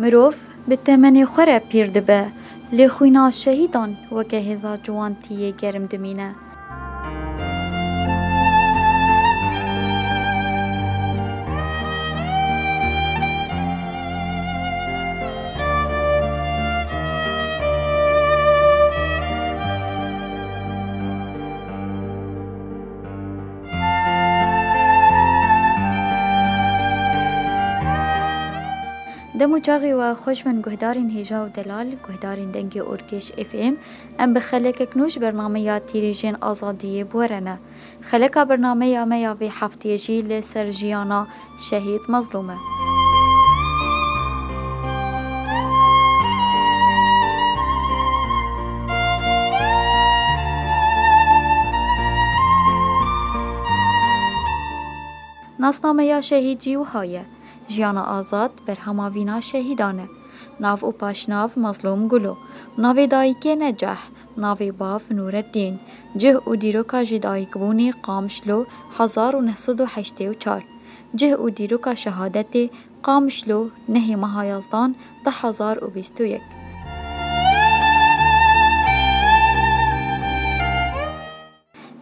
Mirov bi temenê xwe re pîr dibe, lê xwîna şehîdan weke hêza ciwantiyê germ dimîne. Dem û çaxê we xweş bin guhdarên hêja û delal, guhdarên dengê Orkêş FM. Em bi xelekek nû ji bername ya tîrêjên azadiyê bûerene. Xeleka bernameya me ya vê hefteyê jî li ser jiyana Şehîd Mezlûm e. Nasnameya Şehîd jî wiha ye, Jiyana Azad, berhama vîna şehîdan e. Nav û paşnav, Mezlûm Gulo. Navê dayikê ne Cah, Navê bav Nûreddîn cih û dîroka jidayîkbûnê Qamişlo hezar û neh sed û heştê û çar Cih û dîroka şehadetê Qamişlo nehê meha Yazdan du hezar û bîst û yek.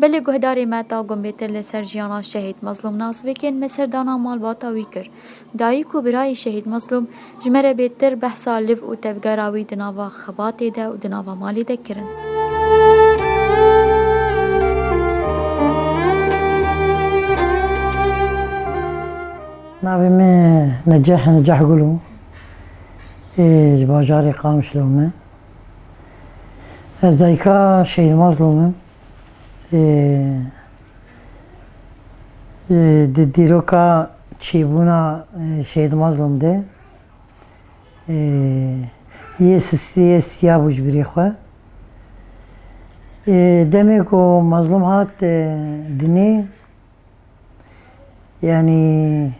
Belê guhdarê me ta gumbêtir li ser jiyana Şehîd Mezlûm nas vekên me serdana malbata wî kir. Dayik û birayê Şehîd Mezlûm ji me re bêtir behsa liv û tevgera wî di nava xebatê de û di nava malê de kirin. Navê me Neceh e, Neceh Gulû. Ê ji bajarê Qamişlo me. Ez dayika Şehîd Mazlûm im. Di dîroka çêbûna Şehîd Mazlûm de yê sistiyê siyabû ji birê xwe. Demê ku Mazlûm hat dinê Yanî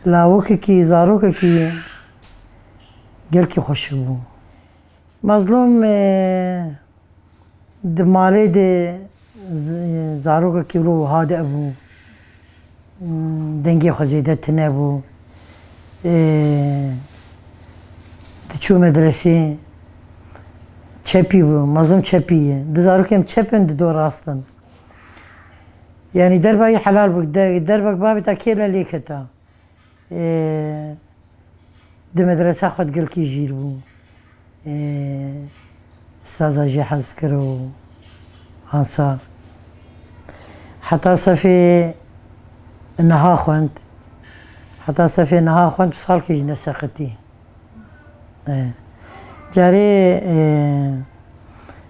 lawikekî, zarokekî gelkî xweşik bû. Mazlûm di malê de zarokekî wilo wiha de bû, dengê xwe zêde tune bû, diçû medresê, çepî bû, mazlûm çepî ye. Du zarokên çep in, du rast in. Yani derba yî helal bû. Derbek bavê ta kê le lê keta. Di medresa xwe di gel kî jîr bû. Saza jî hez kir û ansa. Heta sefê niha xwend. Heta sefê niha xwend û salkê jî neseqitî. Carê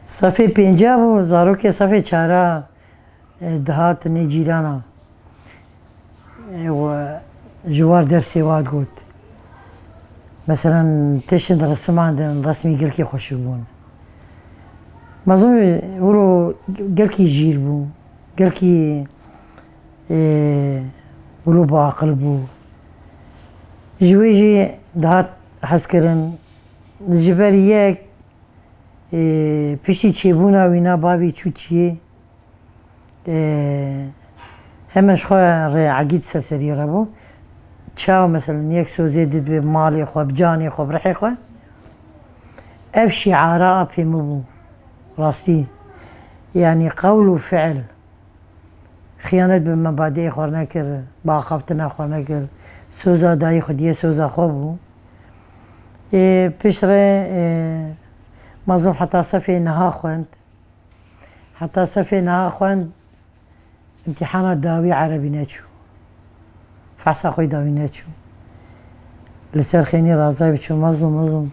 sefê pênca bû, zarokê sefê çara dihatinê cîranan û ji war dersê wan digot, Meselan tiştên di resiman de in resmên gelkî xweşik bûn. Mezin wilo gelkî jîr bû, gelkî grûpa aqil bû. Ji wê jî dihat hezkirin. Ji ber yek piştî çêbûna wî na bavê çû çiyê heme ji xwe re egît ser serî re bû. Çaw meselem yek sozê did bi malê xwe, bi canê xwe, bi rihê xwe. Ev şîara a pêmî bû rastî. Yanî qewl û fiil. Xiyanet bi mebadîê xwe nekir, bi axaftina xwe nekir. Soza dayî xwediyê soza xwe bû. Ê pişt re Mazlûm heta sefê niha xwend. Heta sefê niha xwend îmtîhana dawî erebî neçû. Fehsa xwe da wî neçû. Li ser xênî Razay bi çû mezlûm mezlûm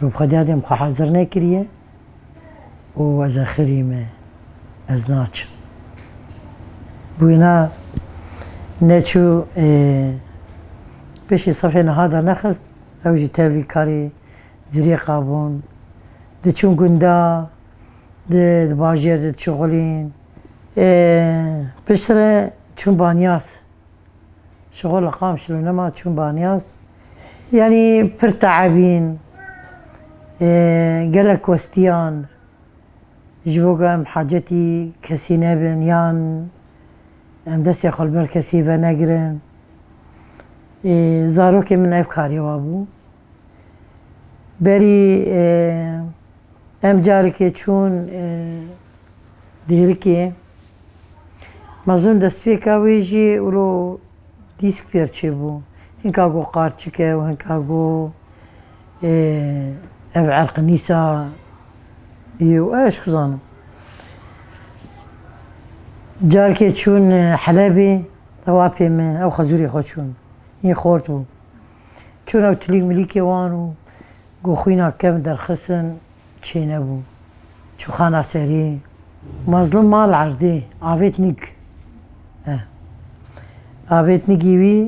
got xwedîya dêm xwe hezir nekiriye û ez e xirî me ez naçim. Bûyna neçû piştî sifê niha da nexist ew jî tevlî karê zirêqa bûn. Diçûn gunda di bajêr de diçû xulîn. Pişt re çûm Banyas. Ji xwe li Qamşlûnema çûm Banyas. Yanî pir teebîn. Gelek westiyan ji bo ku em hacetî kesî nebin yan em destê xwe li ber kesî venegirin. Zarokê min ev karê wabû. Berî em carekê çûn dêrikê. Mezûn destpêka wê jî wilo dîsk pêr çêbû. Hinka got qarçike û hinka got ev erqinîsa yê û ez çi zanim. Carekê çûn Helebê ew apê min ew xezûrê xwe çûn. Yên xort bû. Çûna û tilîk milîkê wan û ku xwîna kevn derxistin çênebû. Çûxana serî, Mazlûm mal erdê, avêt nîk. Eh. Avêt nîkî wî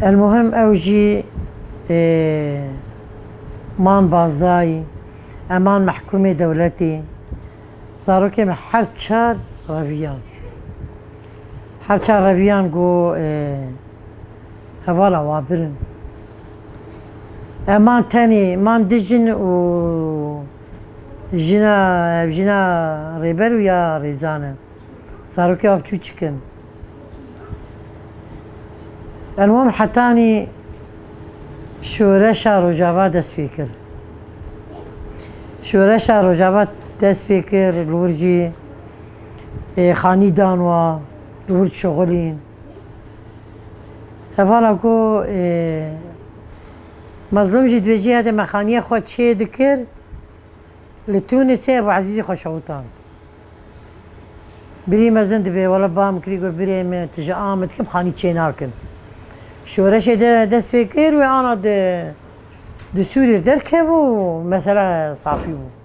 Elmuhim ew jî man bazdayî, eman mehkûmê dewletê. Zarokê min her çar reviyan. Hevça reviyan ku hevala wan pir in. Ev man tenê, man du jin û jina ev jina Rêber û ya Rêzan e. Zarokê wan çûçik in. Ev wan hetanî şoreşa Rojava dest pê kir. Şoreşa Rojava dest pê kir li wir jî xanî dan wa li wir dişuxulîn. Hevala ku Mazlum jî dibêje ya demê xaniya xwe çê dikir li Tûnisê Ebû Ezîzî xwe şewitand. Birî mezin dibê wela ba min kirî got birê min tu ji Amid kim xanî çê nakin. Şoreşê de dest pê kir wê ana di di Sûriyê derkevû û mesela safî bû.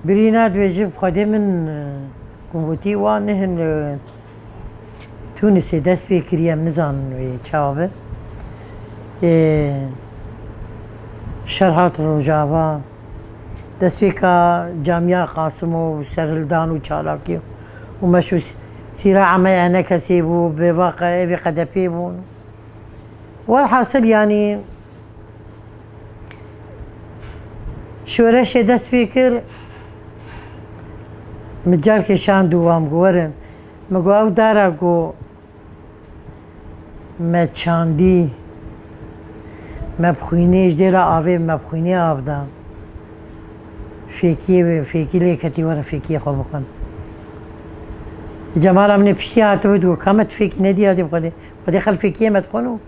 Birîna dibêjin Xwedê min ku gotî wan nihin li Tûnisê dest pê kirî em nizanin wê çawa be. Ê şer hat Rojava dest pê ka camîya Qasim û serhildan û çalakî û meş û sîra'a me ya ne kesê bû bêvaqa evê qedepê bûn. Welhasil yanî Şoreşê dest pê kir min carkê şand û wan ku werin. Min got ew dara ku me çandî me bi xwînê ji dêra avê me bi xwînê av da. Fêkiyê wê fêkî lê ketî werin fêkiyê xwe bixwin. Cemala min ê piştî hatibû dîgot ka me tu fêkî nedî ya dê bi xwedê. Xwedê xel fêkiyê me dixwin û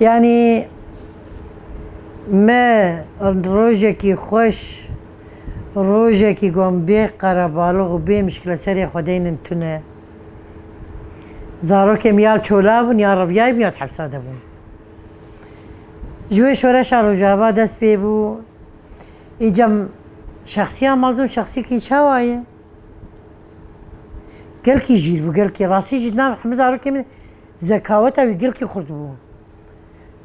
Yanî me rojekî xweş, rojekî got min bê qerebalix û bê mişkile serê xwe deynin tune. Zarokê min ya li Çola bûn ya Reviyayê bûn ya di hepsa de bûn. Ji wê şoreşa Rojava dest pê bû. Îca şexsiya mezin şexsiyekî çawa ye? Gelkî jîr bû gelkî rastî jî di nav hemû zarokê min Zekaweta wî gilkî xurt bû.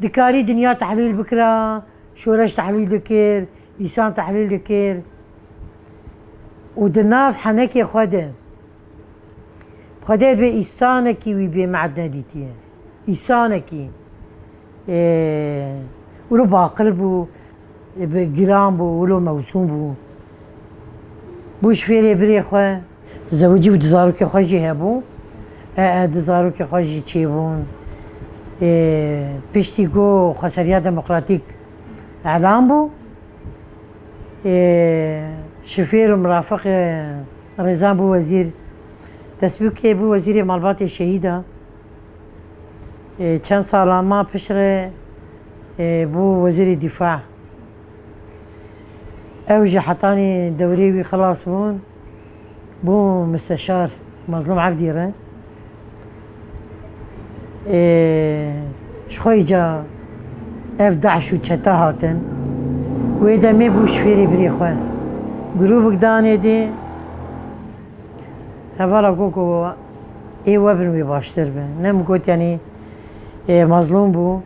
Dikarî dinya tehlîl bikira, şoreş tehlîl dikir, îsan tehlîl dikir û di nav henekê xwe de Xwedê bê îsanekî wî bê me'dne dîtiye. Îsanekî wilo baqil bû, giran bû, wilo mewsûm bû. Bû ji fêrê birê xwe. Zewicî û du zarokê xwe jî hebû. Ee du zarokê xwe jî çêbûn. Piştî ku Xweseriya Demokratîk elan bû, şofêr û mirafiq Rêzan bû wezîr. Destbûkê bû wezîrê malbatê şehîda. Çend salan ma piştre bû wezîrê dîfa. Ew ji hetanî dewrê wî xilas bûn. bo Musteşar Mazlum Ebdî re ê ji xwe yê ca ev DAIŞ û çete hatin. Wê demê bû ji fêrê birê xwe. Grûvik danê dê hevala got ku ê we bin wê baştir be. Ne min got yanî Mazlum bû.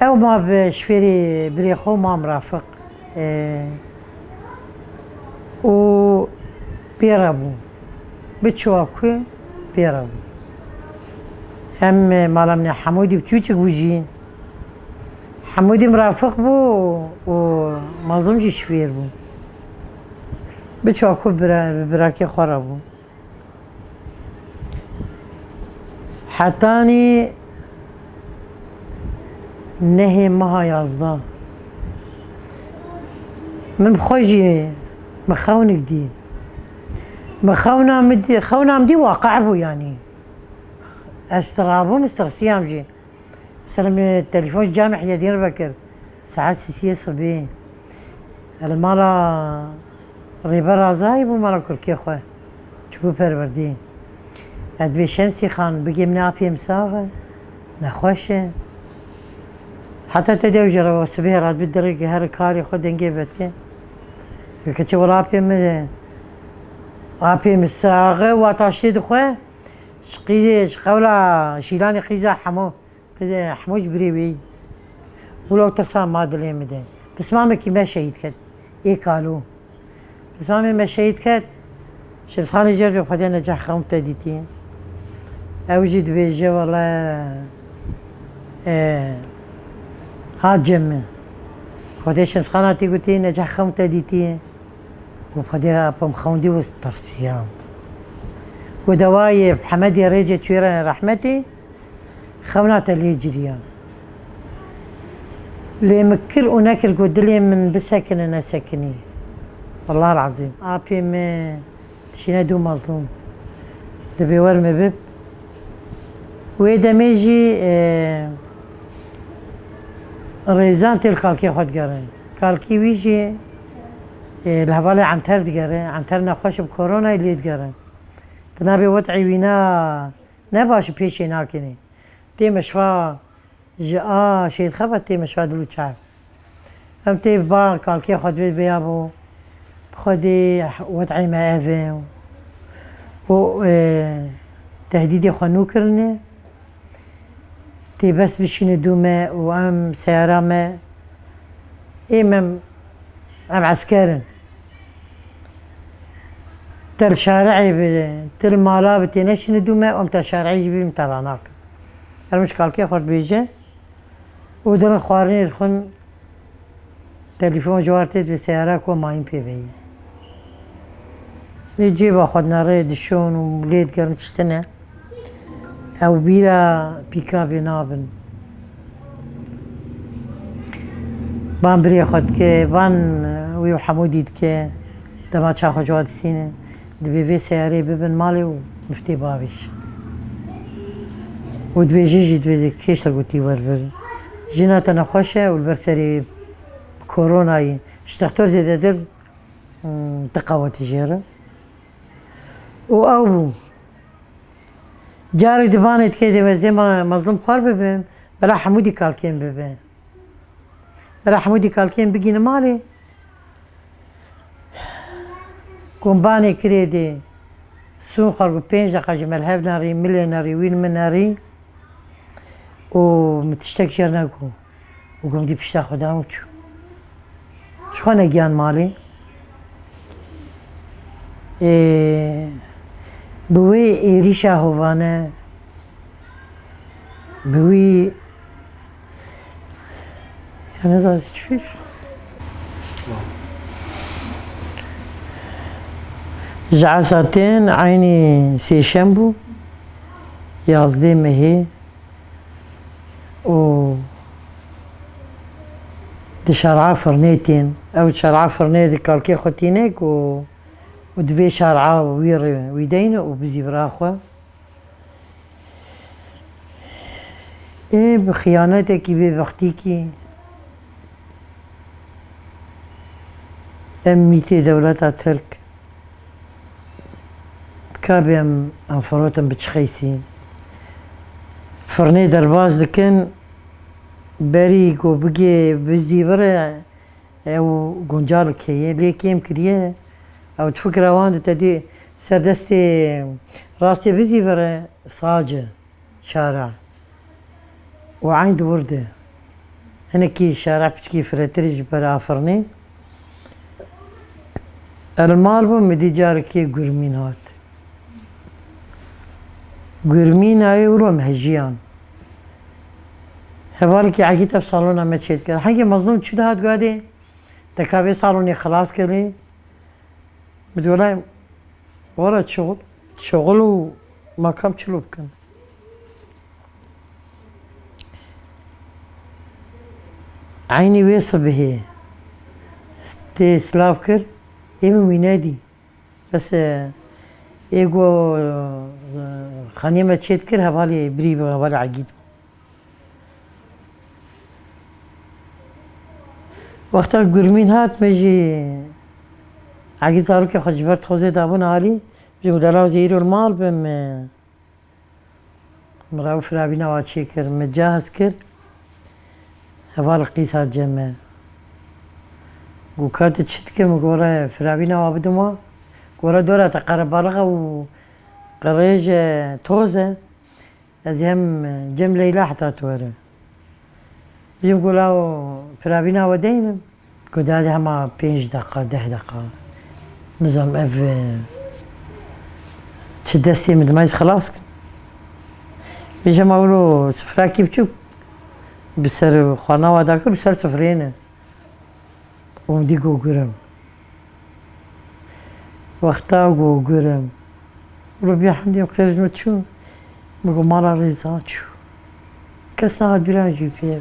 Ew ma bi ji fêrê birê xwe Mam Rafiq û pê re bû. Bi çiwa ku pê re bû. Em mala min e Hemûdî bi Çûçik bû jî. Hemûdî min Rafiq bû û Mazlûm jî ji fêr bû. Bi çiwa ku bi birakê xwe re bû. Hetanî nehê meha yazda min bi xwe jî min xewnik dî. Min xewna min dî xewna min dî waqe bû yanî. Ez tirabûm, ez tirsiyam jî. Selam Telîfon Camî ya Diyarbekir saet sîsiyê sibê li mala Rêber Azayî bû mala kurkê xwe çibû perwerdê. Ez dibê Şemsî Xan bigê min e apê min sax e, nexweş e. Heta te dew jî re sibê re dibê dirêk her karê xwe dengê veke. Veke çi wela apê min e. Apê min sax e, wata ştê dixwe. Ji qîzê ji qewla şîlanê qîza hemû qîzê hemû ji birê wê wilo û tirsa ma dilê min de. Pismamekî me şehîd ket ê kalû. Pismamê me şehîd ket Şerîfxanê Cervê Xwedê Necah xewn te dîtî. Ew jî dibêje wele hat cem min. Xwedê Şerîfxana tî gotî Necah xewn te dîtî. Ku xwedî apom xewndî û tirsiyam. Ku dewayê Hemedê Rêcê Tuêrenê Rehmetê xewna te lê ciriya. Lê min kir û nekir ku dilê min bisekine nesekinî. Wellal Ezîm apê min dişîne dû mezlûm. Di bêwer min bib. Wê demê jî rêzan têl kalkê xwe digerin. Kalkî wî jî. Li hevalê Enter digere. Enter nexweş bi koronayê lê digere. Di navê wet'ê wî ne ne baş û pêşê nakêne. Tê meşiva ji a şêrxe ve tê meşiva dil û çav. Em tê bi ba kalkê xwe divê vêya bo bi xwedê wet'ê me ev e û tehdîdê xwe nû kirine. Tê bes bişîne dû me û em seyara me ê me em esker in. Te li şari'ê bi tu li mala bi têneşîne dû me û em te şari'ê jî bînin em te ranakin. Her min ji kalkê xwe dibêje û di rin xwarinê dixwin. Telefon ji war tê divê seyara ku ma hîn pê veyî. Lê cêba xwe dina rê dişon û lê digerin tiştine. Ew bîra pîkabê nabin. Van birê xwe dike, van wî û Hemûdî dike. Dema çaxa ji wan distînin. Dibê vê seyarê bibin malê û miftê bavê jî. Û dibê jin jî dibê kêşa gotî werbir. Jina te nexweş e û li ber serê koronayê ji dextor zêdetir tiqa wete jê re. Û ew bû. Carek di banê dikê dê wezê me mezlûm xwar bibin, bela hemû dî kalkên bibin. Rehmûdî kalkên bigîne malê. Kombanê kirê dê. Sûn xwar ku pênc deqa ji melhev nerî, milê nerî, wîn min nerî û min tiştek jê re negot. Û ku min dît pişta xwe da û çû. Ji xwe negiyan malê. Ê bi wê êrîşa hovane bi wî. Ji esa tên eynî sêşembû yazdê mehê û di şer'a firnê tên. Ew şer'a firnê di kalkê xwe tîne ku û divê şer'a wî re wî deyne û bizî vira xwe. Ê bi xiyanetekî bêbextîkî em mîtê dewleta Tirk kabê em em firotin bi çi qeysî firnê derbas dikin berî ku bigê bizdîvire Ew guncarik heye lê kêm kiriye. Ew di fikra wan de tedê ser destê rastê bizî vere sace, şara û eyn di wir de hinekî şara piçikî firehtirî ji ber afirnê. Ez li mal bûm midî carekê gurmîn hat. Gurmîna ewro mejiyan. Heval ki Akît ev salona me çêt kir. Hegê mezlum çi dihat guhedê? Deka vê salonê xilas kirî. Bi dolayê wara çiğul, çiğul û makam çilo bikin. Eynî wê sibihê tê silav kir, êmî wî nedî. Bes e. Ê ku xaniyê me çêt kir hevalê birî bû, hevalê Egîd bû. Wexta Gurmîn hat me jî Egîd zarokê xwe ji ber tozê dabûn alî. Min got delal wezê îro li mal be min. Min Rauf Rabîn awa çê kir, min cahz kir heval qîsa cem e. Got ka tu çi dikî min gore firabîn awa bidin wan. Gore dora te qerebalix e û qirêj e, toz e. Ez ê hem cem Leyla heta tu werim. Ji bo law piravîna we de hînim ku di herî hema pênc deqa deh deqa nizanim ev çi destê min dima ez xilas kim. Ji hema wilo sifrakî biçûk bi ser xwe nawa dakir û ser sifreyê ne û dî gogirim. Wexta ku gurim li vê hindê qirino çû, min got mala Rêza çû. Kes a duran jî pê ve.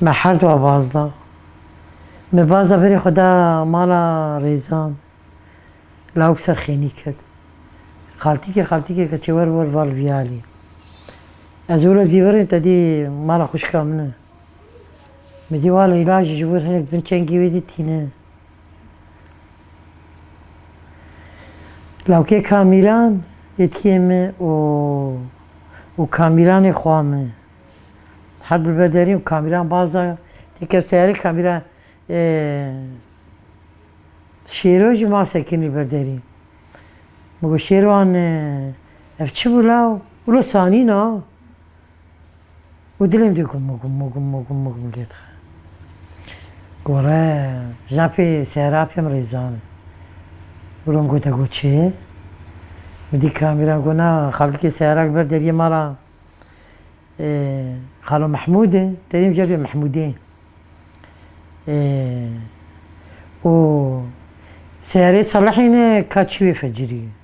Me her dua baz da. Me baza berê xwe da mala Rêzan. Lawik ser xênî kir. Xaltîkê xaltîkê keçê wer wer val viyalî. Ez wilo zî verê te dê mala xwişka min e. Bi dîwal û îlan jî ji wir hinek bin çengî wê dî tîne. Lawkê Kamîran êdkiyê me û û Kamîranê xwa me. Her bi ber derîn û Kamîran baz da tê ket seyarê Kamîran Şêro jî ma sekinî ber derîn. Min got Şêrwan ev çi bû law? Wilo sanîna. û dilê dû gum û gum û gum û gum û gum lê dixe. Gore Jafê Serap yê min rêzan û rom gote got çê ye? Min dît kamîran got na xaltikê seyara li ber deriyê mala Xalo Mehmûd e, deriyê min jî rê Mehmûdê ye û seyareyê Selehê ne ka çivê fecirî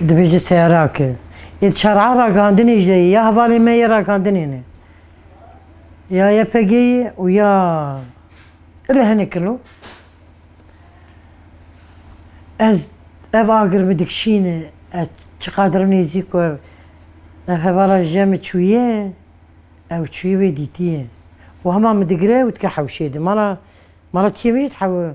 Dibêje seyara ke. Ê çar'a ragihandinê jî de yê. Ya hevalên me yê ragihandinê ne. Ya YPG'yê û ya îro hinek in o. Ez ev agir min dikişîne ez çiqadir nêzîk û ev ev hevala ji cem çûye ew çûye wê dîtiye û hema min digire û dike hewşê di. Mala mala tiyê min jî dihewe.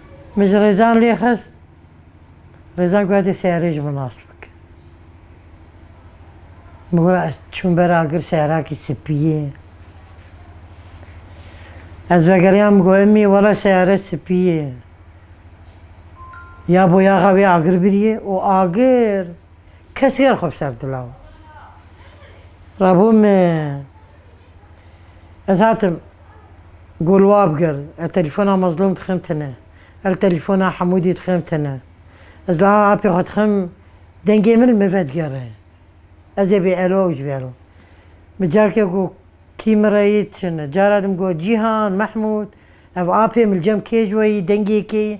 Min ji Rêzan lê xist. Rêzan goya dê seyarê ji min nas bike. Min goya ez çûm ber agir seyarakî spî ye. Ez vegeriya min goya mî wele seyare spî ye. Ya boyaxa wê agir biriye û agir kes ger xwe bi ser dila. Rabû min. Ez hatim gul wab gir, ez telefona Mazlum dixim tine, el telefona Hemûdî dixim tine. Ez li a apê xwe dixim dengê min li min vedigere. Ez ê bê elo ew ji bê elo. Min careke got kî min re yê çin e. Cara din min got Cîhan, Mehmûd, ev apê min li cem kê ji we yî, dengê kê yî.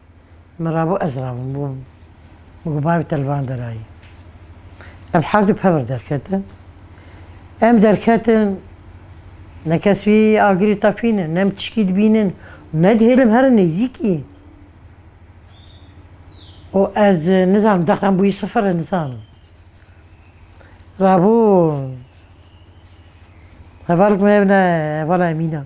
Min rabû ez rabûm bo min got bavê te li van derayê. Em herdû pevr derketin. Em derketin ne kes wî agirê tefînin, ne em tişkî dibînin û ne dihêlin here nêzîkî. Û ez nizanim dexan bûyî sifir e nizanim. Rabû hevalek me hebûne hevala Emînan.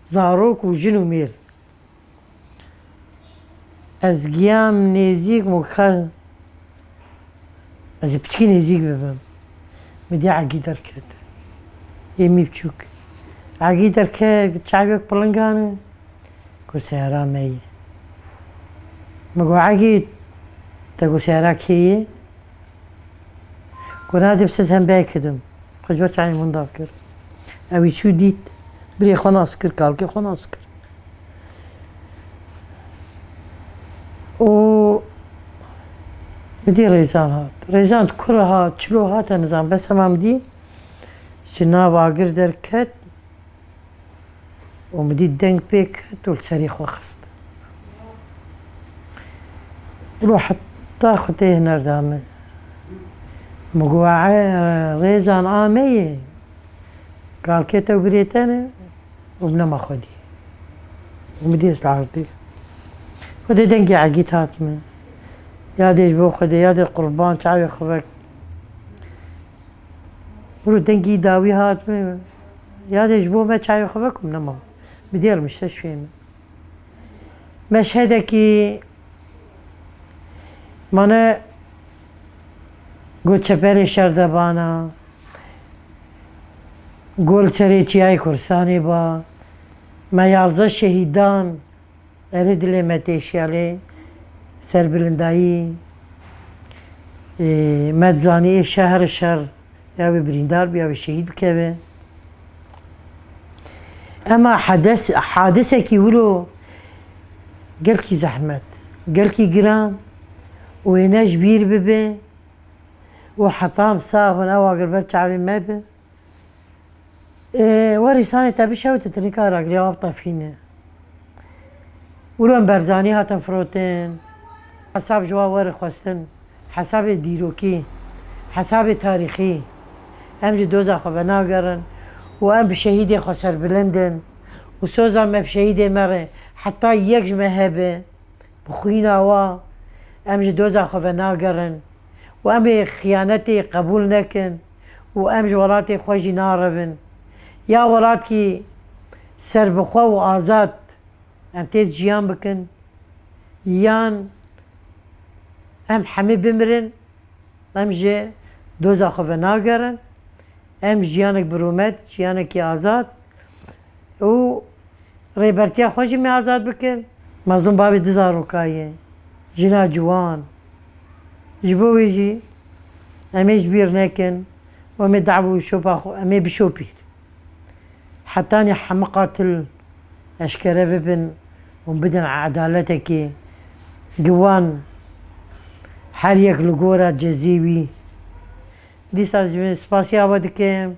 Zarok û jin û mêr. Ez giyam nêzîk min got ka ez ê piçikî nêzîk bibim. Min dîya Egî derket. Ê mî biçûk. Egî derket got çavê wek pilingan e. Got seyara me ye. Min got Egî te got seyara kê ye? Ku nadib siz hem belkî dim. Xwe ji ber çayên hûn dav kir. Ewî çû dît. Birê xwe nas kir, kalkê xwe nas kir. Û bi dî Rêzan hat. Rêzan di kura hat, çilo hate nizam. Bes hema min dî ji nav agir derket. û min dît deng pê ket û li serî xwe xist. Ro heta xwe tê hiner da min. Min got ee Rêzan a me ye. Kalkê te birê te ne û min nema xwedî. Û min dît li erdê. Xwedê dengê Egîd hat min. Yadê ji bo xwedê, yadê qurban çavê xwe vek. Bûro dengî dawî hat min yanê ji bo me çayê xwe vek û min nema. Bi dêl nişte şûyê min. Meşhedekî mane got çeperê şerdebana, gol serê çiyayê Kurdistanê ba, me yazdeh şehîdan. Erê dilê me tê şiya lê serbilindayî me dizanî ê şer herê şer ya wê birîndar bi ya wê şehîd bikeve. Ema hedes hadisekî wilo gelkî zehmet, gelkî giran û wê ne ji bîr bibe û hetam sağ bin ew agir ber çavê me bi. Warê sanê tevî şew titinî kar ragirî ava bi tefhîne. Wilo Berzanî hatin firotin, hesab ji wan werê xwestin, hesabê dîrokî, hesabê tarîxî. Em ji doza xwe venagerin û em bi şehîdê xwe serbilind in û soza me bi şehîdê me re heta yek ji me hebe bi xwîna wa em ji doza xwe venagerin û em ê xiyanetê qebûl nekin. û em ji welatê xwe jî narivin. Ya welatkî serbixwe û azad em tê de jiyan bikin yan em hemî bimirin em ji doza xwe venagerin. Em jiyanek bi rûmet, jiyanekî azad û rêbertiya xwe jî me azad bikin. Mazlûm bavê du zarokayî ye, jina ciwan. Ji bo wê jî em ê ji bîr nekin û em ê dawî û şopa xwe em ê bişopîn. Hetanî hemû qatil eşkere bibin û bidin edaletekê. Giwan her yek li gora cezê wî. Dîsa ji spasî awe dikim.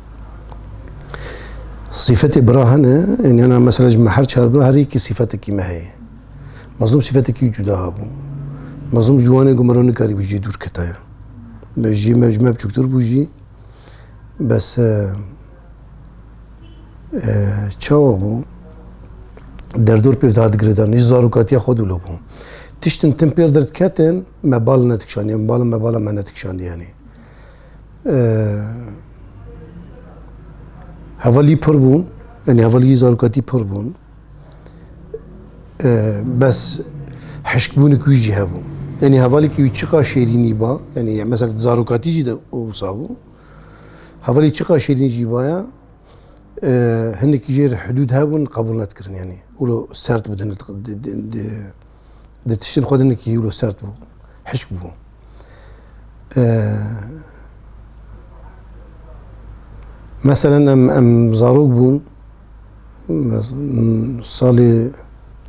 Sîfetê bira hene, ên yana mesela ji me her çar bira her yekî sîfetekî me heye. Mazlûm sîfetekî cuda hebû. Mazlûm ji wanê ku me re nikarîbû jî dûr ketaya. Be jî me ji me biçûktir bû jî bes çawa bû derdor pêv dihat girêdan ji zarokatiya xwe dûlo bû. Tiştin tim pêr derketin me bal nedikişandiye, min bala me bala me nedikişandiye yanî. Hevalî pir bûn, yanî hevalîyê zarokatî pir bûn. Bes hişkbûnik wî jî hebû. Yanî hevalêkî wî çiqa şêrînî ba, yanî mesela zarokatî jî de wisa bû. Hevalî çiqa şêrînî jî baya, hinekî jê re hidûd hebûn qebûl nedikirin yanî. Wilo sert bû di Di tiştin xwe din ki hîlo sert bû. Hişk bû. Meselen em em zarok bûn salê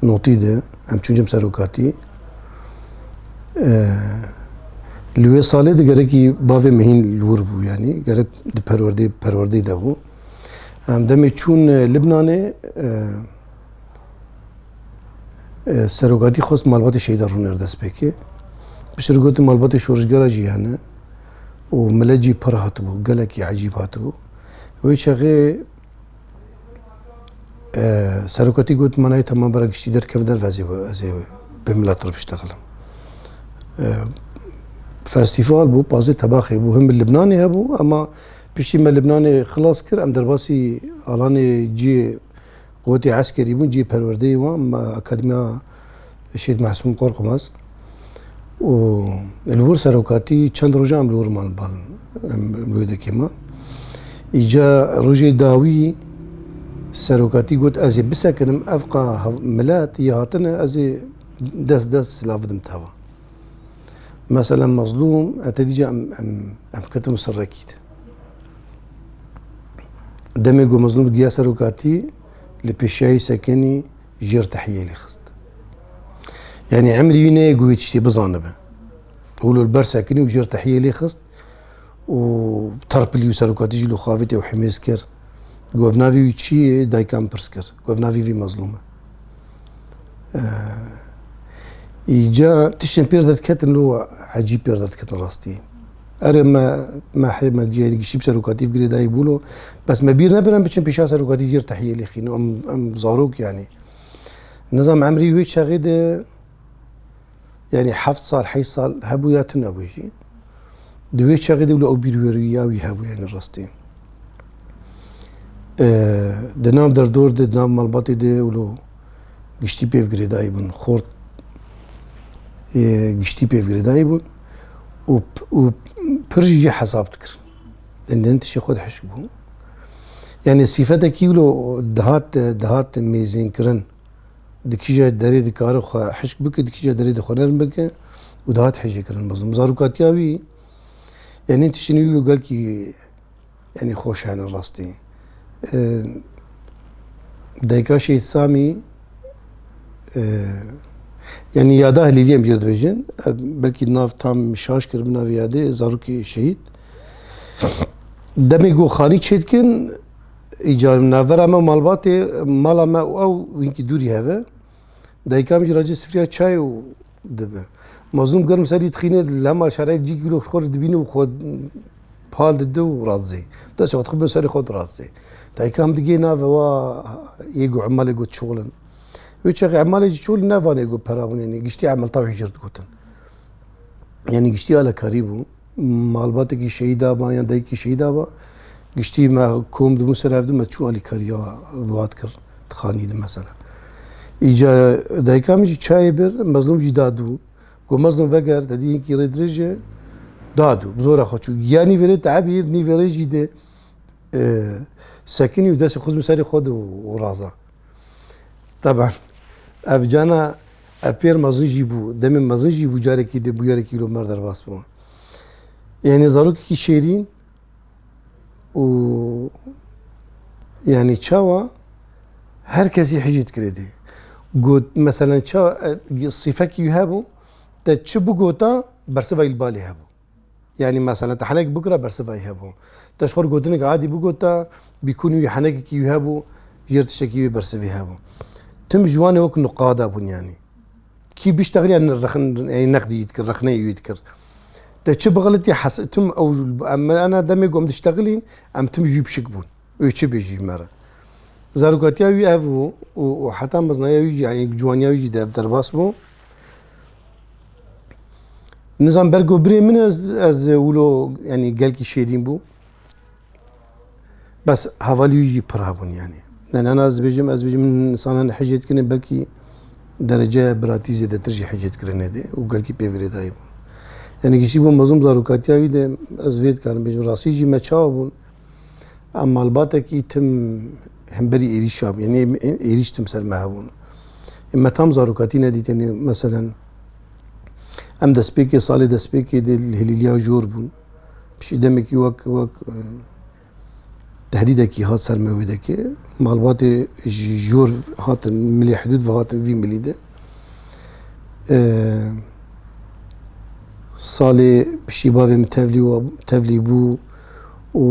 notî de em çûcim serokatî. Li wê salê de gerekî bavê mehîn li wir bû yanî gerek di perwerdê perwerdê de bû. Em demê çûn Libnanê Serogatî xwest malbatê Şeyda Rûnê li dest pêkê. Piştre gotu malbatê şorijgera jî hene û millet jî pir hatibû, gelekî ecîb hatibû. Wê çaxê e, serogatî got manayê tema bera giştî derkeve derve ez ê ez ê bi millet re biştexilim. E, Festîval bû, pazê tebaxê bû, him bi Libnanê hebû ema piştî me Libnanê xilas kir, em derbasî alanê ciyê Gotê eskerî bûn cihê perwerdeyê wan me Akademiya Şehîd Masûm Qorqmaz û li wir serokatî çend rojan em li wir man li bal em li wêdekê man. Îca rojê dawî serokatî got ez ê bisekinim ev qa milet yê hatine ez ê dest dest silav bidim teva. Mesela Mezlûm hetedî ca em em em ketim serrekî de. Demê ku mezlûm giya serokatî li pêşiyayî sekinî jêr tehiyê lê xist. Yanî emrî wî neyê ku wê tiştê bizanibe. Hûl li ber sekinî û jêr tehiyê lê xist û terpilî û serokatî jî li xavê tê û himêz kir. Govnavî wî çi yê daykan pirs kir. Govnavî vî mezlûm e. Îca tiştên pêr derdiketin lo ecîb pêr derdiketin rastî. Erê me me hê me ciyayê giştî bi serokatî bi girê dayê bûlo. Bes me bîr nebin em biçin pêşa serokatî jêr tehiyê lê xîno em em zarok yanî. Nizam emrî wê çaxê de yanî heft sal heyş sal hebû ya tu nebû jî. Di wê çaxê de wilo ew bîr wêrû ya wî hebû yanî rastî. Di nav derdor de di nav malbatê de wilo giştî pêvgirêdayî bûn. Xort yê giştî pêvgirêdayî bûn û û pir jî jê hesab dikir. Din din tişê xwe dihişk bû. Yani sîfetekî wilo dihat dihat mêzênkirin. Dikîje derê dikare xwe hişk bike, dikîje derê dixwe nerm bike û dihat hêjêkirin mezlûm. Zarokatiya wî yani tişinî wilo gelkî Enî xweş hene rastî. Dayika Şehîd Samî yanî yada Hilîlî em jê dibêjin. Belkî nav tam şaş kir bi navê yadê zarokê şehîd. Demê ku xanî çê dikin îca navbera me malbatê mala me û ew wînkî dûrî heve. Dayika min jî racê sifriya çay û Dibe. Mazlûm germ serî dixîne, li hema şerek cî girov xwe dibîne û xwe pal dide û radizê. Dest xwe dixibin serê xwe diradizê. Dayika hem digê nave wa yê got emalê got çol in. Wê çaxê emalê jî çol ne vanê got pera min yanî giştî emelta wê jir digotin. Yanî giştî alekarî bû. malbatekî şehîda ba yan dayikî şehîda ba. Giştî me kom dibûn ser ev di me çû alîkariya Ruat kir dixanî di mesela. Îca dayika min jî çayê bir mezlûm jî da dû. Got mezlûm veger te dî hinkî rê dirêj e da dû bi zora xwe çû. Ya nî verê te ebî nî verê jî de sekinî û destê xwe xizm serê xwe de û raza. Teban ev cana ev pêr mezin jî bû, demê mezin jî bû carekî di bûyerekî li Omer derbas bû. Yanî zarokekî şêrîn û yanî çawa her kesî hicî dikirê dê. Got meselen ça e, sîfekî wî hebû te çi bigota bersiva îlbalê hebû. Yanî meselen te henek bikira bersivayî hebû. Te ji xwe gotinek adî bigot te bîkûnî wî henekekî wî hebû jêr tiştekî wê bersivî hebû. Tim ji wan e wek nuqada bûn yanî. Kî biştexir yan rexin yanî neqdî yî dikir, rexneyê wî dikir. Te çi bixilitî hes tim ew em ana demê ku em diştexilîn em tim jî pişik bûn. Wê çi bê jî me re. Zarokatiya wî ev bû û heta mezin ya wî jî yanî ciwaniya wî jî derbas bû. Nizam bergo birê min ez ez wilo yani gelkî şêrîn bû. Bes hevalî wî jî pir hebûn yani. Nenana ez dibêjim ez bêjim insanan hicê dikine belkî derece biratî zêdetir jî hicê dikirine dê û gelkî pê virêdayî bûn. Yani giştî bû mezûm zarokatiya wî de ez vê dikarim bêjim rastî jî me çawa bûn. Em malbatekî tim hemberî êrîşa bû. Yanî êrîş tim ser me hebûn. Me tam zarokatî nedîtin. Meselen em destpêkê salê destpêkê dê li Hilîliya jor bûn. Pişî demekî wek wek tehdîdekî hat ser me wê dekê. Malbatê ji jor hatin milê hidûd ve hatin vî milî de. Salê pişî bavê min tevlî bû. û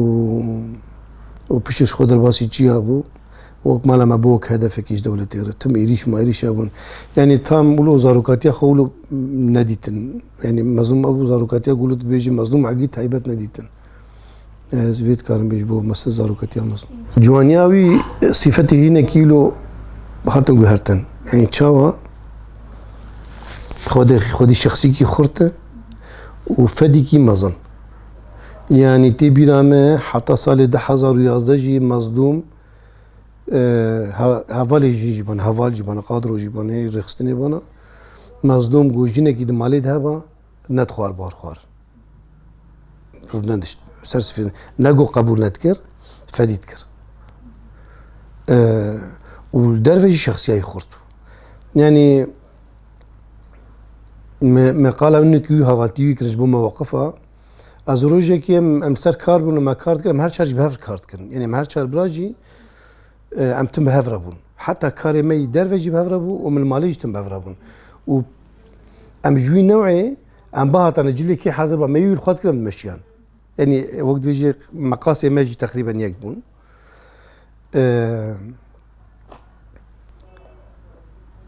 û piştî ji xwe derbasî çiya bû. Wek mala me bû wek hedefekî ji dewletê re. Tim êrîş ma êrîş hebûn. Yanî tam wilo zarokatiya xwe wilo nedîtin. Yanî mezlûm ew zarokatiya ku wilo tu dibêjî mezlûm egî taybet nedîtin. Ez vê dikarim bêjim bo mesela zarokatiya mezlûm. Ciwaniya wî sîfetê hînekî wilo hatin guhertin. Yanî çawa xwedî xwedî şexsîkî xurt e û fedîkî mezin. Yanî tê bîra me heta salê du hezar û yazdeh jî Mezlûm hevalê jin jî bana, heval jî bana, qadro jî bana, yê rêxistinê bana. Mezlûm ku jinekî di malê de heba net xwar bar xwar. Rû nedişt ser sifê ne ku qebûl nedikir, fedî dikir. û li derve jî şexsiyayî xurt bû. Yanî meqala wî nikî wî havatî wî kirin ji bo me weqifa. Ez rojekî em em ser kar bûn me kar dikin em her çar jî bi hev kar dikin. Yenê em her çar bira jî em tim bi hev re bûn. Heta karê me yî derve jî bi hev re bû û min malê jî tim bi hev re bûn. û em ji wî newê em bihatane cilê kê hezir ba me yî wî li xwe dikin em dimeşiyan. Yanî wek dibêjî meqasê me jî teqrîben yek bûn.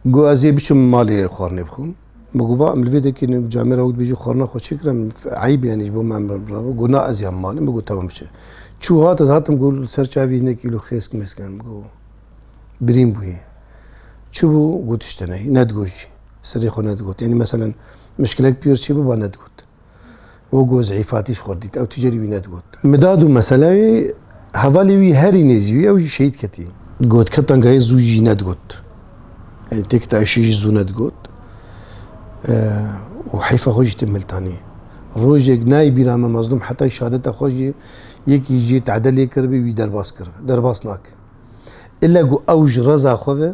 Got ez ê biçim malê xwarinê bixwim. Min got va em li vê dekê camê re wek dibêjî xwarina xwe çi kirim eyb yanî ji bo me mirabo got na ez yan malê min got temam biçe. Çû hat ez hatim got li ser çavî hinek kîlo xêsk mêsk yan min got birîn bûyê. Çi bû got tişte neyê nedigot jî. Serê xwe nedigot. Yanî meselen mişkilek pîr çê biba nedigot. û got zîfatî ji xwe dît. Ew ti carî wî nedigot. Midad û meseleyê hevalê wî herî nêzî wî ew jî şehîd ketî. Got kevt anka yê zû jî nedigot. Yanî têk ta êşê jî zû nedigot. Û heyfa xwe jî tim miltanî. Rojek nayê bîra me Mazlûm hetayê şehadeta xwe jî yekî jê tade lê kiribî wî derbas kiribî. Derbas nake. Îlle ku ew ji reza xwe ve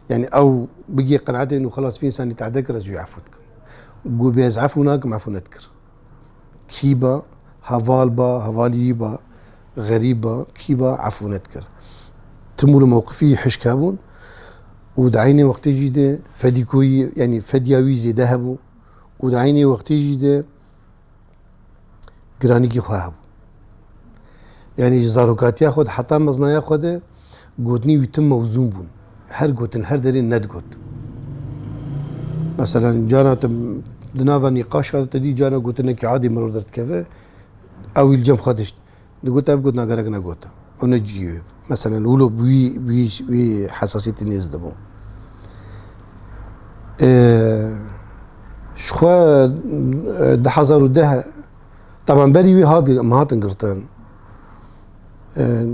yanî ew bigê qenaetê no xelas vî însanî tade kir ez wî efû dikim. Gubê ez efû nakim efû nedikir. Kî ba heval ba hevaliyî ba xerîb ba kî ba efû nedikir. Tim û li mewqifî hişk hebûn û di eynê wextê jî de fedîkoyî yanî fedya wî zêde hebû û di eynê wextê jî de giranîgî xwe hebû. Yanî ji zarokatiya xwe de heta meznaya xwe de gotinî wî tim mewzûn bûn. Her gotin her derê nedgot. Mesela cana te di nava nîqaşa te dî cana gotinekî adê mirov derdikeve ew îl cem xwe dişt. Digot ev got na gerek ne got. Ew ne cî ye. Meselen wilo bi wî bi wî wî hesasiyetî nêz dibû. Ji xwe di hezar û deh taban berî wî hat em hatin girtin.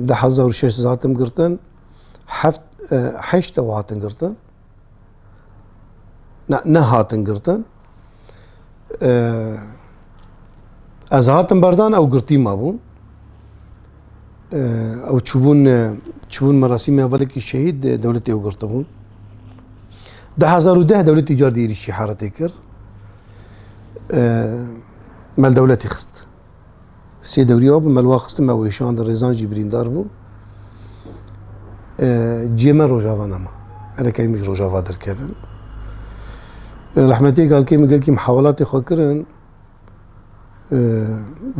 Di hezar û şeş hatin girtin. Heft heşt ew hatin girtin. Ne, nehatin girtin. Ez hatim berdan ew girtî ma bûn. Ew çûbûn çûbûn merasîmê hevalekî şehîd dewletê ew girtibûn. Di hezar û deh dewletî car dî êrîşî heretê kir. Mel dewletî xist. Sê dewriya bi melwa xistin me wêşand rêzan jî birîndar bû. Ciyê me rojava nema. Erekeyî min ji rojava derkevin. Rehmetê galkê min gelkî mihewelatê xwe kirin.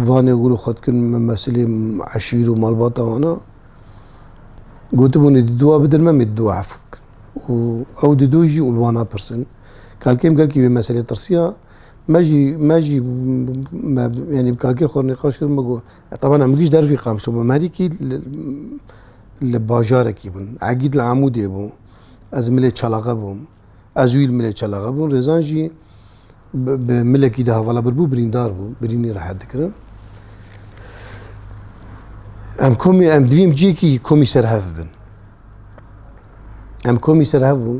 Vanê gul û xwe dikin min mesilê eşîr û malbata wana. Gotibûnê dû a bidin me mê dû a hef bikin. Û ew dû jî ûlwana pirsin. Kalkêm gelkî wê meselê tirsiya. Me jî me jî me yanî bi kalkê xwe nîqaş kirin me got tebana min gîj dervî qamşo me herîkî li bajarekî bûn egîd li Amûdê bû ez milê çalaxe bûm ez wî li milê çalaxe bûn rêzan jî bi milekî de hevala birbû birîndar bû birînî rehet dikirin em komî em divîm ciyekî komî serhev bin em komî serhev bûn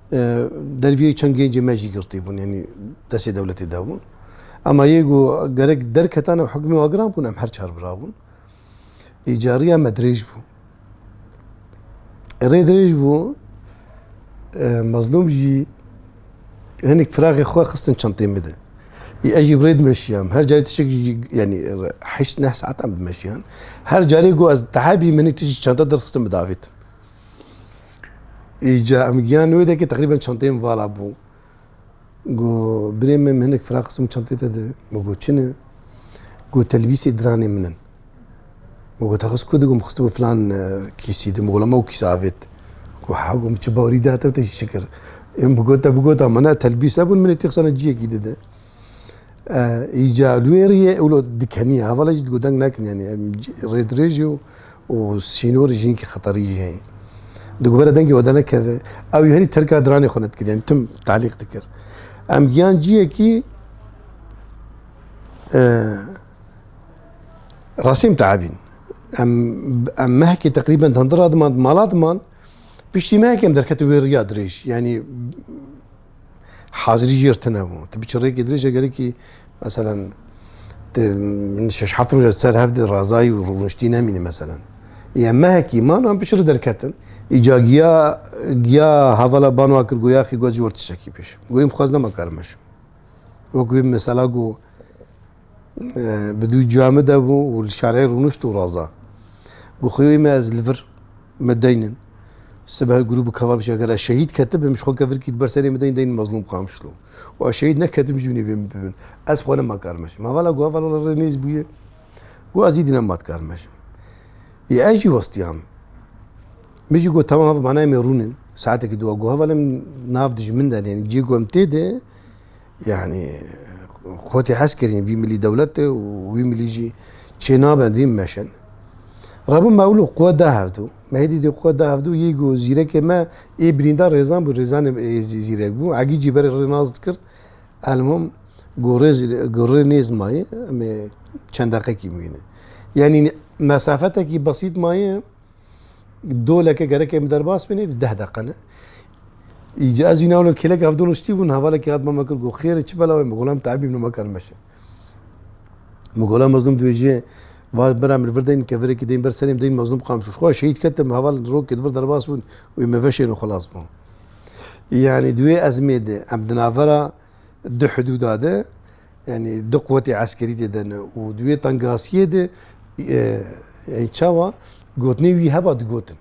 Derviyê çend gencê me jî girtî bûn yanî destê dewletê de bûn. Ema yê ku gerek derketan û hikmê agiran bûn em her çar bira bûn. Îca riya me dirêj bû. Rê dirêj bû mezlûm jî hinek firaxê xwe xistin çentê min de. Ez jî birê dimeşiyam. Her carê tişek jî yanî heşt neh saetan dimeşiyan. Her carê ku ez tehe bîm hinek tişî çenta derxistin bidavêtin. Îca em giyan wê dekê teqrîben çanteyê min vala bû. Got birê min hinek fira qism çantê te de min got çin e. Got telbîsê diranê min in. Min got texuz ku digom xistibû filan e, kîsî de min got lama û kîsa avêt. Got ha got min çi bawerî da te te şikir. Em bi gota bi gota min e telbîs hebûn minê tê xisana ciyekî dide. Îca li wê riyê ewlo dikeniya hevala jî deng nekin yanî rê dirêj jî û sînorî jî hinekî xeterî jî heye. Dikubera dengê we denekeve ew jî herî terka diranê xwe nedikir yanî tim talîq dikir. Em giyan ciyekî rasîm teabîn. Em em mehekê teqrîben di hindira diman di mala diman piştî mehekê em derketine wê riya dirêj yanî Hazirî jêr tune bû. Tu biçi rêkê dirêj egerekî meselen min şeş heft roja ser hevdê razayî û rûniştî nemîne meselen. Yê mehekî man an biçi derketin. Îca giya giya hevala banwa kir goya xî gocî wertişekî pêş. Goyîm xwaz nema karim eşim. Wek wê mesela go Bi dû cuya min de bû û li şarê rûnişt û raza. Got xwewê me ez li vir me deynin. Siber grû bi kevabij eger ez şehîd ketibim ji xwe kevirkî li ber serê min deyn deyn Mezlûm Qamşlo. Û ez şehîd neketim jî hûnê bê min bibin. Ez xwe nima karmeşim. Hevala got heval wela rê nêz bûye. Got ez dîdî nema dikarmeşim. Yê ez jî westiyam. Min jî got temam hev manayê me rûn in. Saetekî dû got heval em nav dijmin de ne cê ku em tê de Yanî xwe tê hes kirîn vî milî dewlet e û wî milî jî çê nabe vîn meşin. Rabû mewlû qwe da hevdû. Mehê dîdî qwe da hevdû yê ku zîrekê me ê birînda rêzan bû rêzanê ê zîrek bû. Egî jî berê rê nas dikir. Elmûm ku rê ku rê nêz mayê em ê çend deqekî bimînin. Yanî mesafetekî besît mayê. Doleke gerek em derbas bînê di deh deqe ne. Îca ez înawlo kêlek hevdol ştî bûn hevalekî hat me kir ku xêrê çi bela wê min golam teebî min me karim meşe. Min golam mezlum di wêjiyê va bira min vir deyin kevirekî deyin ber serê min deyin mezlum qam şûş. Xwe şehîd ketim heval rokê di vir derbas bûn wê me veşên û xilas bûn. Yani di wê ezmê de em di navbera di hidûda de yanî du quwetê eskerî tê de ne û di wê tengasiyê de yanî çawa gotinê wî heba digotin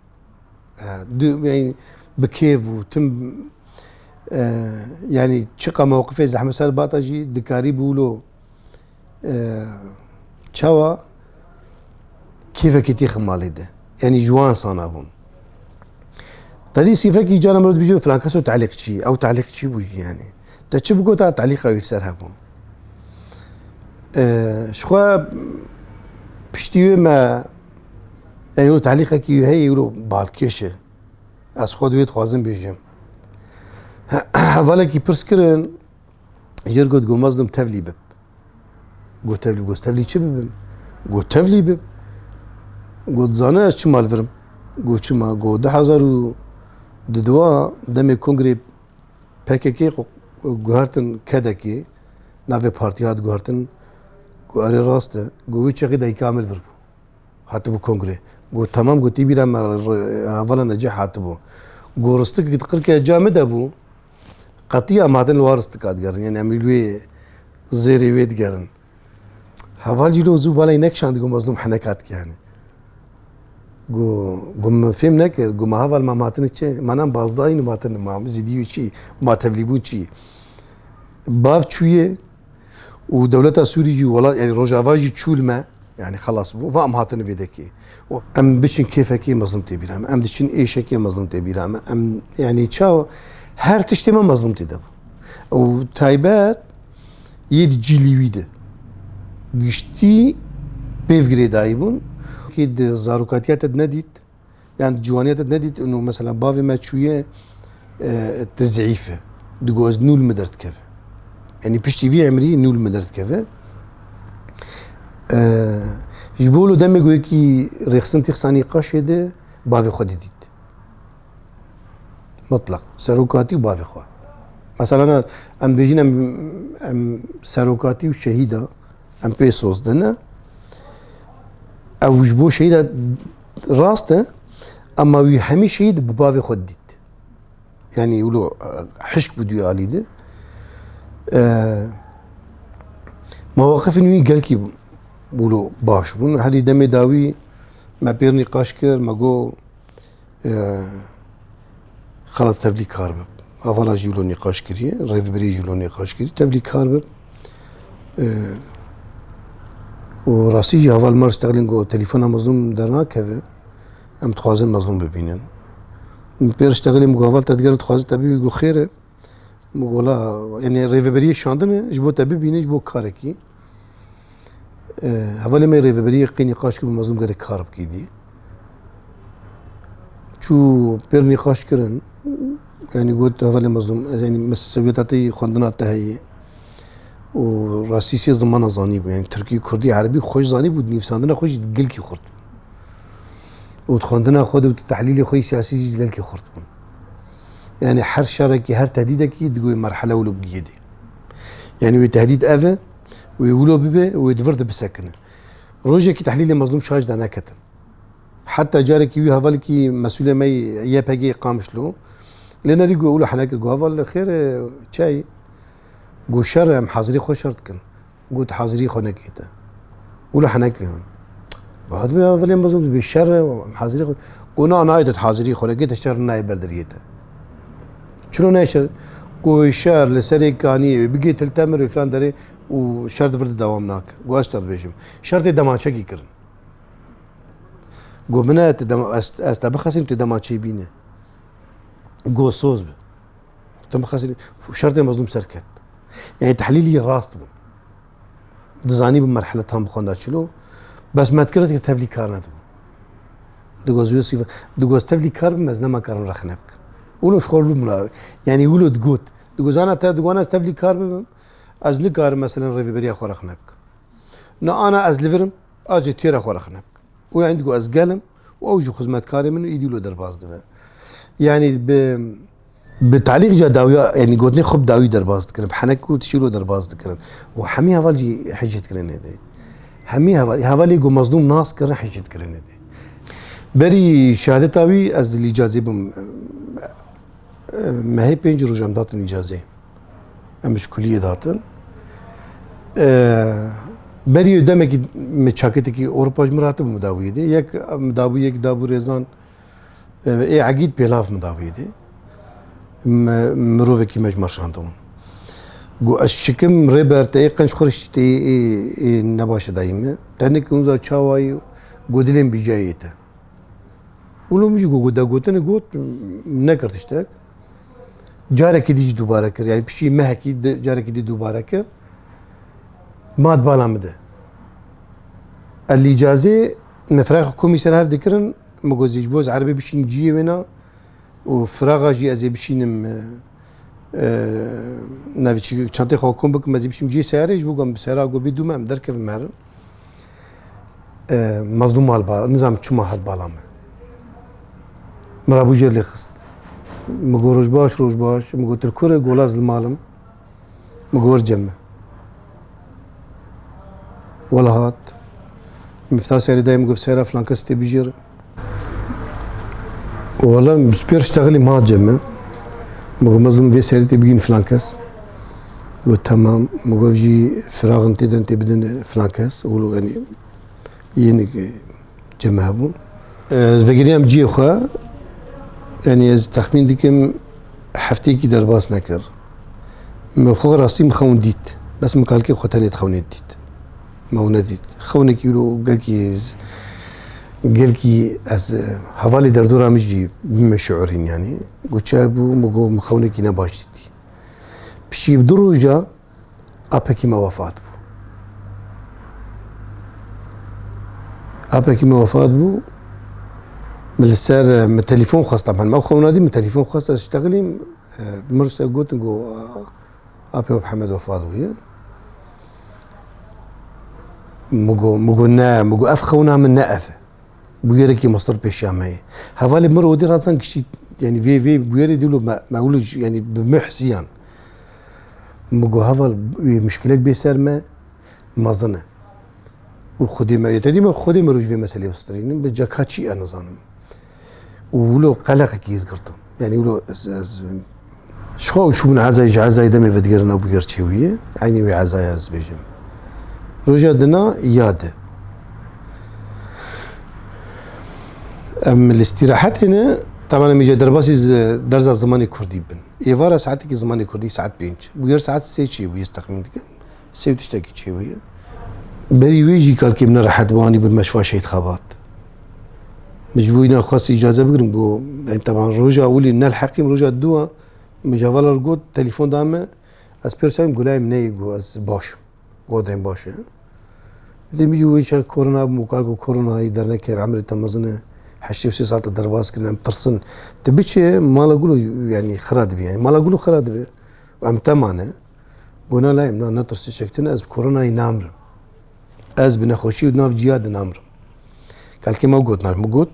bi kêv û tim yanî çiqa mewqifê Zehmet Ser Bata jî dikarî bûlo çawa kêfekî tî ximalê de yanî ji wan sana bûn tedî sîfekî cara mir dibîjin filan keso telîq çî ew telîq çî bû jî yanî te çi biko ta telîqa wî ser hebûn ji xwe piştî wê me yanî wî telîqekî wî heye wî balkêş e ez xwe di wê dixwazim bêjim hevalekî pirs kirin Jêr got got mezlum tevlî bib. Got tevlî got tevlî çi bibim? Got tevlî bib. Got zane ez çi mal virim? Got çi ma got di hezar û di duwa demê kongrê PKK guhertin kedekê navê partiya hat guhertin ku erê rast e got wî çexî dayî kamil vir bû. Hatibû kongrê. Got temam gotî bîra me hevala neceh hatibû. Got ristik qirke ca min de bû. Qetiya madin li war istika digerin. Yani em wê zêrê wê digerin. Heval cî zû balay nekişand got mezlûm heneka dike yani. Got min fêm nekir got me heval ma matin çi manan bazdayî matin ma zîdî çi ma tevlîbûn çi. Bav çûye û dewleta Sûrî jî welat yanî Rojava jî çûl me yanî xelas bû va em hatin vê dekê û em biçin kêfekê mezlum tê bîra me em diçin êşekê mezlum tê bîra me em yanî çawa her tiştê me mezlum tê de bû û taybet yê di cîlî wî de giştî pêv girêdayî bûn kê di zarokatiya te nedît Yani di ciwaniya te nedît û mesela bavê me çûye tu zîf e. Digo ez nûl min derdikeve. Yanî piştî vî emrî nûl min derdikeve. Ji bo li demê goyekî rêxistin tîxsanî qaşê de bavê xwe didît. Mutlaq. Serokatî û bavê xwe. Mesela em bêjin em em serokatî û şehîda em pê soz dine. Ew ji bo şehîda Rast e ama wî hemî şeyî di bi bavê xwe dît. Yanî wilo hişk bû duyê alî di. Mewaqifên wî gelkî wilo baş bûn. Herî demê dawî me pêr nîqaş kir, me got xelas tevlî kar bib. Avala jî wilo nîqaş kiriye, rêvebirê jî wilo nîqaş kiriye, tevlî kar bib. û rastî jî heval me ji teqlên ku telefona mezlûm dernakeve em dixwazin mezlûm bibînin. Pêr ji teqlê min ku heval te digerin dixwazin te bibî ku xêr e min gola enê rêveberiyê şandin e ji bo te bibînin ji bo karekî. Hevalê me rêveberiyê qînî qaç kir bi mezlûm gerek kar bikî dî. Çû pêrnî qaç kirin yanî got hevalê mezlûm yanî me sewiyeta te yê xwendina te heye û rasîsiyê zimana zanî bû yanî tirkî kurdî erebî xweş zanî bû nîvsandina xwe jî gilkî xurt bû û xwendina xwe de û tehlîlê xwe yî siyasî jî gelkî xurt bûn. Yani her şerekî her tehdîdekî digoyê merhele û lobgiyê dê. Yani wê tehdîd ev e Wê wilo bibe û wê di vir de bisekinin. Rojekî tehlîlê Mezlûm Şaş de neketin. Heta carekî wî hevalekî mesûlê me yê YPG'ê Qamişlo lê nerî got wilo hene kir got heval li xêr e çi got şer e em hezirî xwe şer dikin. Got hezirî xwe nekê te. Wilo hene kir. Got divê hevalê Mezlûm dibê şer e em hezirî xwe got na nayê te hezirî xwe nekê te şer nayê ber deriyê te. Çiro neşir ku şer li serê kaniyê wê bigê til temir wê filan derê û şer di vir de dewam nake. Got ez tê dibêjim. Şer tê demaçekî kirin. Got min e ez te bixesînim tê demaçeyî bîne. Got soz bi. Te bixesînim şer tê mezlûm ser ket. Yani tehlîlî rast bû. Dizanî bi merhile tam bixwenda çilo. Bes me dikir dikir tevlî kar nedibû. Digoz Yosîf digoz tevlî kar bim ez nema karin rexne bikim. Wilo ji xwe bûm la yanî wilo digot. Digozana te diwan ez tevlî kar bibim ez nikarim mesela rêveberiya xwe rexne bikim. Na ana ez li virim acê têra xwe rexne bikim. Û yani digo ez gelim û ew jî xizmetkarê min û îdî wilo derbas dibe. Yani bi Bi talîq ca dawiya yanî gotinê xwe bi dawî derbas dikirin, bi henek û tişîro derbas dikirin û hemî heval jî hicê dikirinê dê. Hemî heval hevalê ku mezlûm nas kirin hicê dikirinê dê. Berî şehadeta wî ez li îcazê bûm. Mehê pênc roj em datin îcazê. Em ji kuliyê datin. Berî demekî min çaketekî Ewropa ji min re hatibû midabûyê dê. Yek midabû yek dabû rêzan. Ê egîd pêlav min da wîdî. Mirovekî me ji me şandibûn. Got ez çikim rêber te ê qenc xuriştî te ê nebaşe dayî min. Tenik hûnza çawayî û got dilên bîcayê te. Wilo min jî got degotinê got nekir tiştek. Carekî dî jî dubare kir. Yani pişî mehekî carekî dî dubare kir. Mat bala min de. El îcazê Me firaxa komî ser hev dikirin, me got zê ji bo ez erebê bişînim ciyê wêna û firaxa jî ez ê bişînim e, e, navê çi çantê xwe kom bikim ez ê bişînim ciyê seyarê ji bo ku em bi seyara gobî dû me em derkevin me herin. E, Mazlûm mal bala nizanim çima hat bala me. Min rabû jêr lê xist. Min got roj baş roj baş. Min got tu li ku re got laz li mal im. Min got cem e. Wela hat. Mifta serê dayê min got sera filan kes tê bijêr. Wela min spêr ştegelî min hat cem e. Min got mezlûm vê serê tê bigîn filan kes. Got tamam. Min got jî firaxin tê den tê bidin filan kes. Û yani Yeni cemah bu. Ez vegiriyam ciyê xwe. Yani ez tahmin dikim hefteyekî derbas nekir. Me xwe rastî min xewn dît. Bes min kalkê xwe tenê dixewnê dît. Me û nedît. Xewnekî îro gelkî gelkî ez hevalê derdora min jî bime şiurîn yanî. Got çaybû min got min xewnekî ne baş dîtî. Pişî bi du roja Apekî me wefat bû. Apekî me wefat bû. Min li ser min telefon xwesta min. Me xewna dî min telefon xwesta ji teqlîm min rişte gotin ku apê web Hemed wefat bûye. Migo migo ne migo ev xewna min ne ev. Bûyerekî mastir pêşiya me ye. Hevalê min odî razan kişî yani vê vê bûyerê dîlo me me wilo yani bi me hisiyan. Migo heval wî muşkilek bê ser me mezin e. Û xwedê me yê tedî me xwedê me roj vê meselê bistrînin bi ceka çî e nizanim. Û wilo qeleqekî ez girtim. Yani wilo ez ez ji xwe û min ezayê ji ezayê demê vedigerina bû gerçê wî ye. Eynî wê ezaya ez bêjim. Roja dina ya de. Em li îstîrahetê ne, taban em îca derbasî derza zimanê Kurdî bin. Êvara saetekî zimanê kurdî saet pênc. Bûyer saet sê çêbûye ez texmîn dikim. Sê û tiştekî çêbûye. Berî wê jî kalkê min rehet bû anî bin meşfa Şehîd Xebat. Min ji bo wî nexwest îcaze bigirim got em teban roja wî lê nelheqîm roja dû a min ji heval re got telefon da min ez pê wisa yim got layê min neyê got ez baş im. wadên baş e. Lê mijî wê îşa korona bû kar ku koronayî derneke emrê te mezin e. Heştê û sê sal te derbas kirin em tirsin. Ti biçe mala gul yanî xira dibe yanî mala gul xira dibe û em te mane. Gona layê min na ne tirsê çektin ez bi koronayî namrim. Ez bi nexweşî û di nav cîya de namrim. Kelkê me got navê min got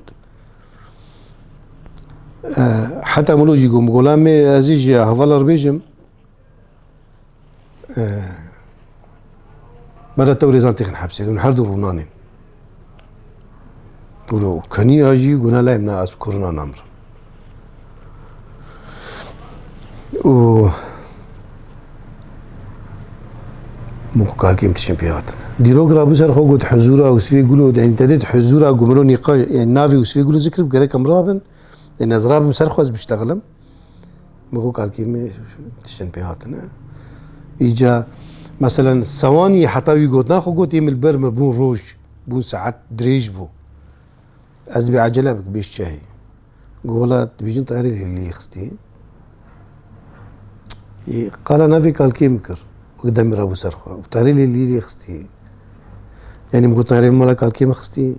heta min jî got gola me ezî ji hevala re bêjim Bere tewrêzan têxin hepsê din her du rûnanên. Ro keniya jî guna lay min ez korona namir. û min ku kakêm tişin pê hatin. Dîrok ra bû ser xwe got hizûra Usfê Gulo yani te dêt hizûra Gumro nîqa yani navê Usfê Gulo zikir gerek em rabin. Yani ez rabim ser xwe ez biştexilim. Bi ku kalkî me tiştên pê hatine. Îca meselen sewanî heta wî got naxwe got yê min ber me bûn roj bûn saet dirêj bû. Ez bê acele bik bêj çehê. Gola dibêjin tayarê lê xistî. Qala navê kalkê min kir. Demê rabû ser xwe. Tayarê lê lî lê xistî. Yani bu tarih mala kalkê mi xistî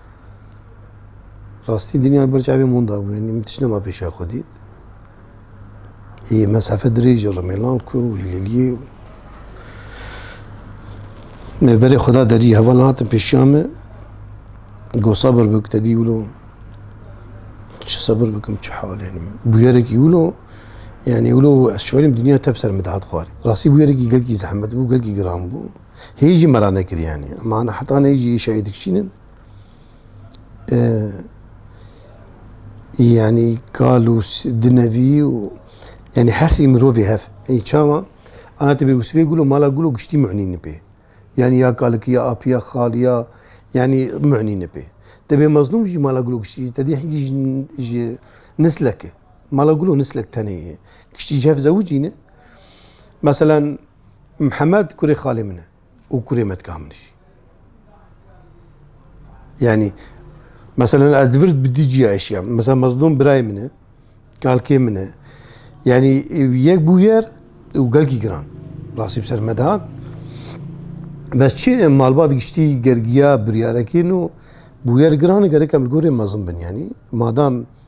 Rastî dinya li ber çavê min de bû. Min tişt nema pêşa xwe dît. Hê mesafe dirêj e Rimêlan ku Hîleliyê Mêberê Xweda derî heval hatin pêşiya me. Got sabir bik te dî wilo. Çi sabir bikim çi hal yani. Bûyerekî wilo yani wilo ez şarîm dinya tev ser min dihat xwarî. Rastî bûyerekî gelkî zehmet bû, gelkî giran bû. Hê jî me ra nekiriyanî. Ma na heta nê jî îşa yê dikişînin. Yanî kal û dinevî û yanî her sî mirovê hev. Ê çawa ana tibê û sivê gulo mala gulo giştî muhnîn nipê. Yanî ya kalikî ya apî ya xal ya yanî muhnîn nipê. Tibê mezlûm jî mala gulo giştî te dî hingî ji ji nislek e. Mala gulo nislek tenê ye. Giştî ji hev zewicî ne. Meselan Mihemed kurê xalê min e û kurê me dika min jî. Yani mesela ez di vir bi dî cîya eşîya. Mesela Mezlûm birayê min e, kalkê min e. Yani yek bû yer û gelkî giran. Rastî bi ser me dihat. Bes çi malbat giştî gergiya biryarekî nû bû yer giran e gerekem li gorê mezin bin. Yani madam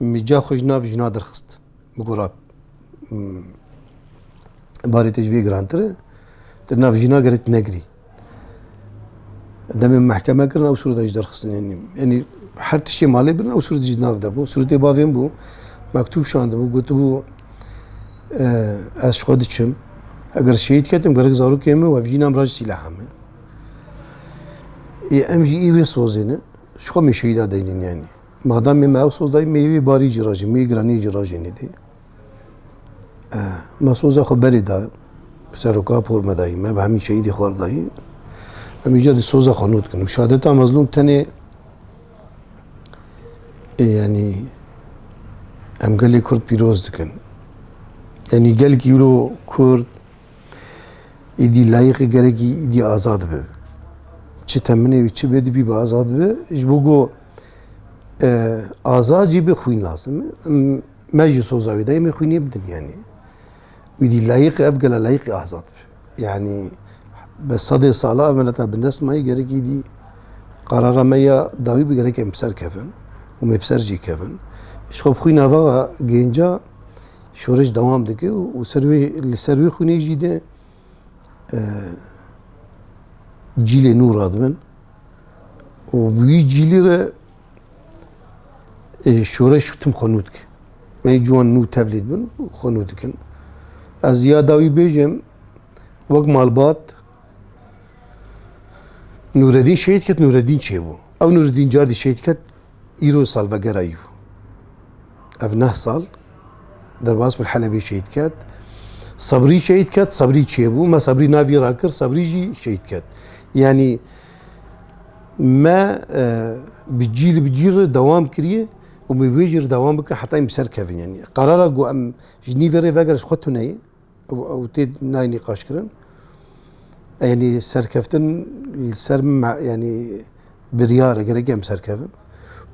Mîca xwe ji nav jina derxist. Bi gora barê te ji vê girantir e. Di nav jina gerê tu negirî. Demê mehkeme kirin ew sûrda ji derxistin yenî. Yenî her tiştê malê bin ew sûrda ji nav de bû. Sûrtê bavên bû. Mektûb şandibû gotibû ez ji xwe diçim. Eger şehîd ketim gerek zarokê min wevjî nam ra ji sîleha min. Ê em jî î wê sozê ne. Ji xwe min şehîda deynîn yenî. Madamê me ew soz dayî mêyûyê barî cî ra jî mêyûyê giranîyê cî ra jî nêdî. Me soza xwe berê da seroka por me dayî. Me bi hemî şehîdê xwe re dayî. Em îcar dî soza xwe nû dikin û şehadeta mezlûm tenê yanî em gelê Kurd pîroz dikin. Yanî gelkî îro Kurd îdî layiqê gerekî îdî azad bi. Çi teminê wî çi bê divî bi azad bi ji bo ku Azacî bi xwîn lazim e. Me ji soza wê dayê min xwînê bi dinyanê. Wî dî layiqi ev gela layiqi azad bi. Yani bi sedê sala ev mileta bindest mayî gerekî dî qarara me ya dawî bi gerek em ser kevin û me ser jî kevin. Ji xwe bi xwîna va gênca şoreş dewam dike û ser wê li ser wê xwînê jî de cîlê nû radibin. û wî cîlî re e, şoreş tim xwe nû dike. Me ciwan nû tevlî dibin û xwe nû dikin. Ez ya dawî bêjim wek malbat Nureddin şehîd ket Nureddin çêbû. Ew Nureddin cardî şehîd ket îro salvegera yû. ev neh sal derbas min Helebê şehîd ket. Sebrî şehîd ket, Sebrî çêbû, me Sebrî navî rakir, Sebrî jî şehîd ket. Yanî me e, bi cî li bi cî re dewam kiriye û me wê jî re dewam bike heta em bi ser kevin. Yanî qarara ku em ji nîvê rê vegerin ji xwe tuneyê. ew tê nayê nîqaşkirin. Yanî serkeftin li ser min yanî biryar e gerek em serkevin.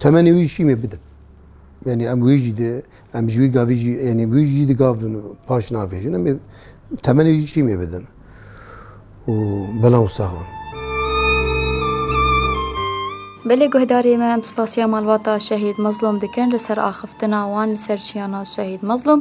Temenê wî jî mê bidin. Yanî em wî jî de em ji wî gavî jî yanî wî jî di gavin û paş navêjin em temenê wî jî mê bidin. û belav û sax bin. Belê guhdarê me em spasiya malbata Şehîd Mezlûm dikin li ser axiftina wan li ser çiyana Şehîd Mezlûm